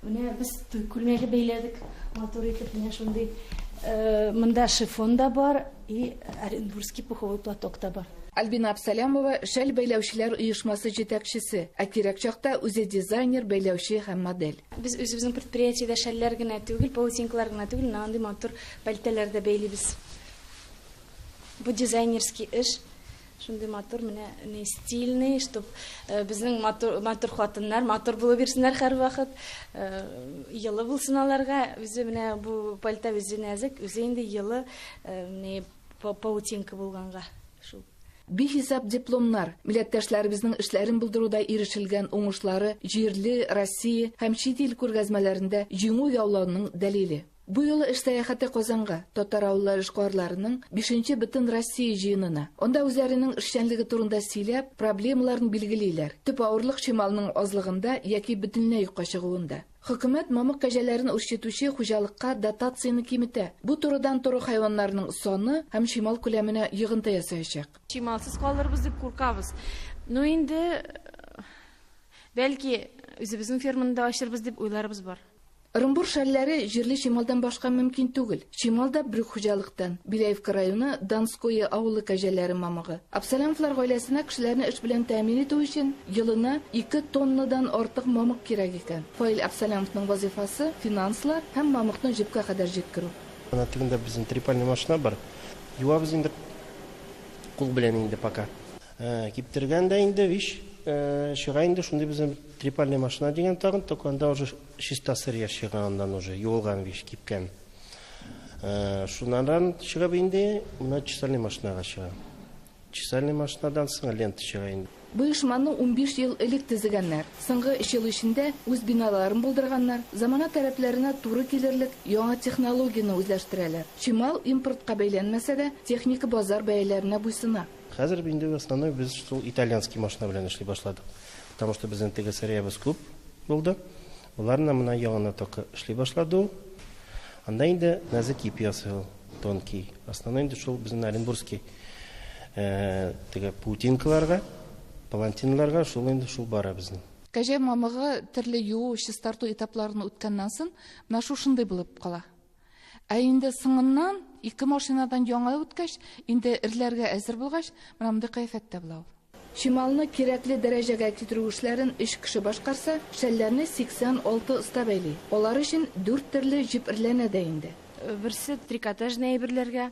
Менә без туй күлмәге бәйләдек. Матур итеп менә шундый. Э, монда шифон да бар и Оренбургский пуховой платок та бар. Альбина Абсалямова шәл бәйләүчеләр оешмасы җитәкчесе, ә кирәк чакта үзе дизайнер, бәйләүче һәм модель. Без үзебезнең предприятиедә шәлләр генә түгел, паутинкалар гына түгел, менә андый матур пальтәләр дә бәйлибез. Бу дизайнерский эш. Шундый матур менә ни стильный, чтоб э, безнең матур, матур хатыннар матур булып бирсеннәр һәрвакыт. Э, елы булсын аларга. Үзе менә бу пальто үзе нәзек, үзе инде елы, э, ни паутинка булганга. Шул. Бихисап дипломнар, милләттәшләребезнең эшләрен булдыруда ирешелгән уңышлары җирле, Россия һәм чит ил күргәзмәләрендә җиңү яулауның дәлиле. Бу юлы эш сәяхәте Казанга, татар авыллары эшкуарларының бишенче Бөтенроссия җыенына. Анда үзләренең эшчәнлеге турында сөйләп, проблемаларын билгелиләр. Төп авырлык чималның азлыгында яки бөтенләй юкка чыгуында. Хөкүмәт мамык кәҗәләрен үрчетүче хуҗалыкка дотацияне киметә. Бу турыдан тору хайваннарының саны һәм чимал күләменә йогынты ясаячак. Чималсыз калырбыз дип куркабыз. Ну инде, бәлки, үзебезнең ферманы да ачырбыз дип уйларыбыз бар. Ырымбур шәлләре җирле чималдан башка мөмкин түгел. Чимал да брюк хуҗалыктан, Беляевка районы Донское авылы кәҗәләре мамыгы. Абсалямовлар гаиләсенә кешеләрне эш белән тәэмин итү өчен елына ике тоннадан артык мамык кирәк икән. Фаил Абсалямовның вазыйфасы, финанслар һәм мамыкны җепкә кадәр җиткерү. Ана тегендә безнең трепальный машина бар. Юабыз инде кул белән инде пока. Киптергән дә инде, вич чыга инде, шундый безнең трепальный машина дигән тагын, только анда уже Чиста сыр яшь чыга аннан уже, юылган вич, кипкән. Шуннан чыгып инде, менә чесальный машинага чыга. Чесальный машинадан соң лента чыга инде. Бу оешманы унбиш ел элек төзегәннәр. Соңгы өч ел эчендә үз биналарын булдырганнар, замана таләпләренә туры килерлек яңа технологияне үзләштерәләр. Чимал импортка бәйләнмәсә дә, техника базар бәяләренә буйсына. Хәзер инде в основной без шул итальянский машина белән эшли башладык. Потому что безнең теге сыриябез күп булды. Боларны мына яңына только эшли башлады ул. Анда инде нәзек ипи ясый ул, тонкий. Основной инде шул безнең Оренбургский э, теге паутинкаларга, палантинларга шул инде шул бара безнең. Кәҗә мамыгы төрле юу, чистарту этапларын үткәннән соң, менә шушындый булып кала. Ә инде соңыннан, ике машинадан яңа үткәч, инде эрләргә әзер булгач, менә мондый кыяфәттә була ул. Чималны кирәкле дәрәҗәгә китерү эшләрен өч кеше башкарса, шәлләрне 86 оста бәйли. Алар өчен дүрт төрле җеп эрләнә дә инде. Берсе, трикотажный әйберләргә.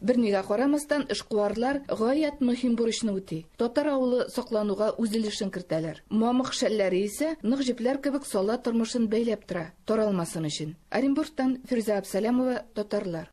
Бернигә карамастан, эшкуарлар гаять мөһим бурычны үти, татар авылы саклануга үз өлешен кертәләр. Мамык шәлләре исә нык җепләр кебек сала тормышын бәйләп тора, таралмасын өчен. Оренбургтан Фирүзә Абсалямова, Татарлар.